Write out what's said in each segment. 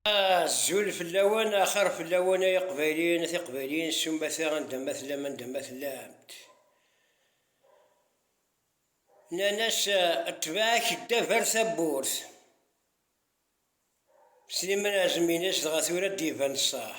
Azul fell-awen, axir fell-awen ay iqbayliyen a tiqbayliyin s umata anda ma tellam anda ma tellamt. Nnan-as ṭṭbaɛ-k ddab ar tawwurt. Sliman Ɛezmi-ines dɣa tura ad d-iban ṣṣeḥ.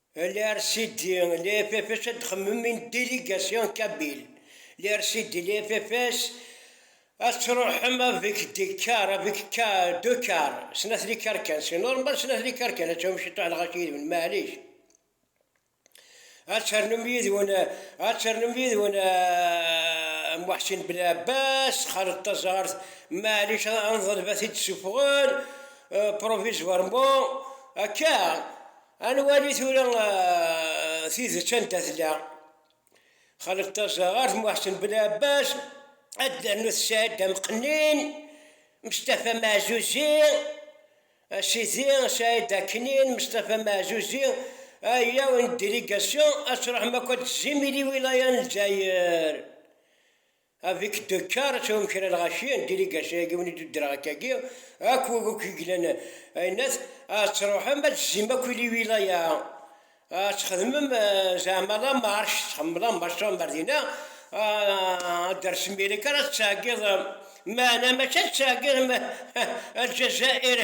LRCD, les FFS ad xemmemen i délégation kabyle, LRCD, les FFS ad truḥem avec des cars, avec deux cars, snat likar kan, c'est normal snat likar kan, ad tawim ciṭuḥ lɣaci yid-wen, maɛlic, ad ternum yid-wen, ad ternum yid-wen Muḥsin Belɛebbas, Xaled Taẓart, maɛlic ad nḍelb ad t-id-ssuffɣen provisoirement, akka. Ad nwali tura tidet anda tella. Xaled Tazaɣart, Muḥsen Belɛebbas, ad d-ternu Tesɛid Amqennin, Mestafa Meɛzuzi, a sidi, Saɛid Aknin, Mestafa Meɛzuzi, ayaw n délégation, ad truḥem akk ad d-tezzim i liwilaya n Lezzayer. Avik Docar ad tawim kra lɣaci n diligasyu-agi win i d-uddreɣ akkagi, akk wid akk yeglan ayennat, ad truḥem ad d-tzim akk i liwilaya, ad txedmem zeɛma lamarche, txedmem lamarche tṛuḥem ar dina, ad d-tersem yal akka ara tettɛeggiḍ, meɛna mačči ad tettɛeggiḍ Alǧazair,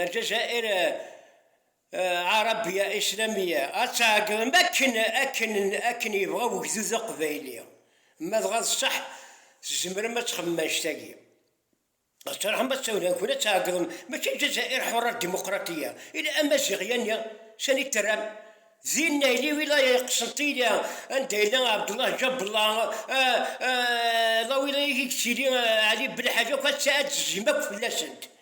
Alǧazair. Arabia Islamia ad tɛeggem akken akken akken yebɣa wegdud aqbayli. Ma dɣa d ṣṣeḥ tzemrem ad txemmem annect-agi. Ad truḥem ad tawin ad nkun ad tɛeggem mačči Lezzayer ḥuṛṛa dimuqraṭiya ila Amaziɣ yani sani d-terram? Din nayli wilaya i Qsenṭiniya anda yella Ɛebdullah Jabla la wilaya i d-tili Ɛli Belḥaǧ akk ad d-tezim akk fell-asent.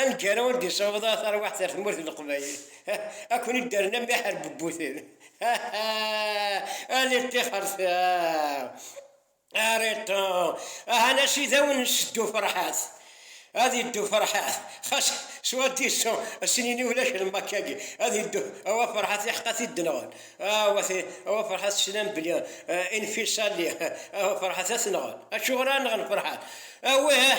Aneggaru ur d-yessaweḍ ara tarwiḥt ar tmurt n Leqbayel. Ad ken-id-rren am iḥerbebbuten. Ali ṭṭixert! Ariṭṭu! Ahan a sidi ad wen-nesseddu Ferḥat. Ad iddu Ferḥat. Xas s waddis-a snin-i ulac lmakka-agi. Ad iddu awa Ferḥat iḥeqq ad t-id-nɣen. Awa awa Ferḥat teslam belli infisali awa Ferḥat ad t-nɣen. Acuɣer ara nɣen Ferḥat? Awih!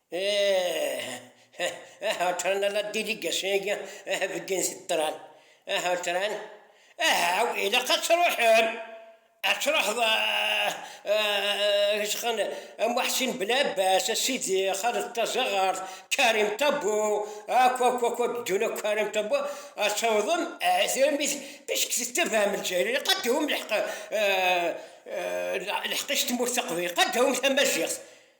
Ahatran ala diligasyon agi aha bedden si ṭṭran, ahatran ahaw ilaq ad truḥem, ad truḥeḍ a Muḥsin Belɛebbas, a Sidi, a Xaled Tazaɣert, Karim Ṭabbu, akk akk akk ad ddun akk Karim Ṭabbu, ad tawḍem puisque tettabaɛem Lezzayer ilaq ad tawim lḥeqq, lḥeqq-is tmurt taqbaylit, ilaq ad tawim tamaziɣt,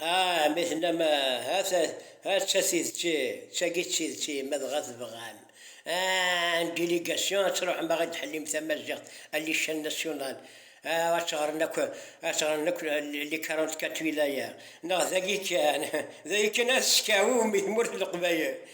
Ah, mi tennam ah, ah, ta, ah, d tatidt, d tagi d tideţ-i, ma dɣa tebɣam, ah, en délégation ad tṛuḥem a ɣ-id-ḥellim tamaziɣt à l'échelle nationale, ah, ad ţ-ɣren akk, ad ţ-ɣren akk les quarante-quatre wilayas, neɣ dagi kan, dagi kan ad ţ-ţekɛum i tmurt n Leqbayel.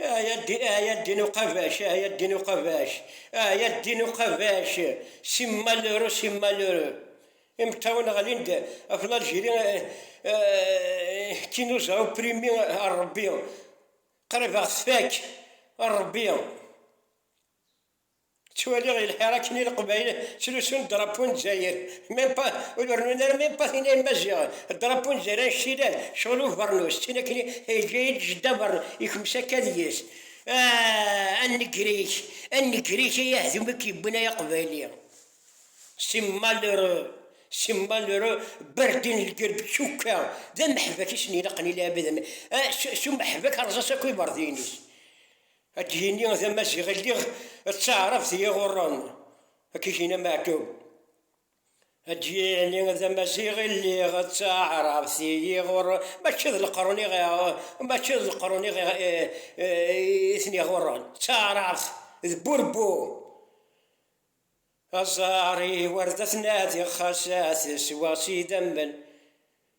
Ah ya ddin, ah ya ddin uqabac, ah ya ddin uqabac, ah ya ddin uqabac, si malheureux, si malheureux. Imeṭṭawen ɣlin-d ɣef l'Algérie, qui nous a opprimé, a Rebbi, qrib a ɣ-tfak, a Rebbi. Ttwaliɣ lḥir akken i Leqbayel ttlusun drapeau n Dzayer, même pas, ur rennun ara même pas tin ay Maziɣ, drapeau n Dzayer anect yellan, ccɣel ubernus, d tin akken i yeǧǧa-iyi-d Jedda Bern, yekmes akka deg-s, Ah! a Negrik, a Negrik ay ahdum i k-yewwin ay Aqbayli! C'est malheureux, c'est malheureux, Berdin lgerb tcukka d ameḥbak i sen-ilaqen i lɛibad am, ah, s umeḥbak rrẓas akk iberdin-is. Ad d-yini d amaziɣ i lliɣ d taɛrabt i iɣurren, ad k-yini Meɛtub. Ad d-yini d amaziɣ i lliɣ d taɛrabt i iɣurren, mačči d leqrun i mačči d leqrun i i ten-iɣurren, d taɛrabt, d burebbu. Aẓar-iw ar d at-nadiɣ xas ad t-sweɣ s idammen,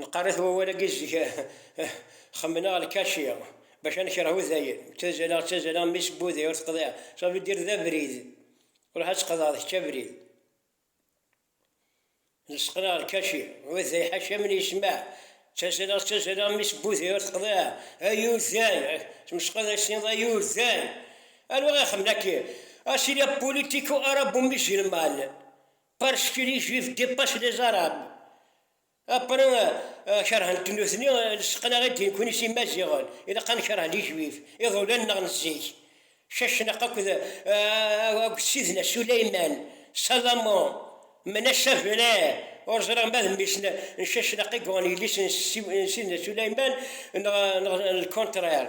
Neqqar-it wawal-agi zik xemmeneɣ lkaci bac ad nekreh udayen, ttazaleɣ ttazaleɣ mmi-s n wudi ur teqḍiɛ, ça veut dire d abrid, ruḥ ad tqeḍɛeḍ kečč abrid, lseqneɣ lkaci, uday ḥaca min yesmeɛ, ttazaleɣ ttazaleɣ mmi-s n wudi ur teqḍiɛ, ay uday, tmesqeḍ ay s-tiniḍ ay uday, anwa i xemmen aki, ah c'est la politico arabo-musulmane, parce que les juifs dépassent les arabes. Après, kerhent nutni lseqna i d-yekkun i Imaziɣen, ilaq ad nekreh lijbib, iḍulan neɣ n zik, Cacnaq akked Sidna Suleyman, Salomon, Menassa Vere, ur ẓriɣ ma d mmi-s n Cacnaq i yuɣen yelli-s n Sidna Suleyman neɣ le contraire.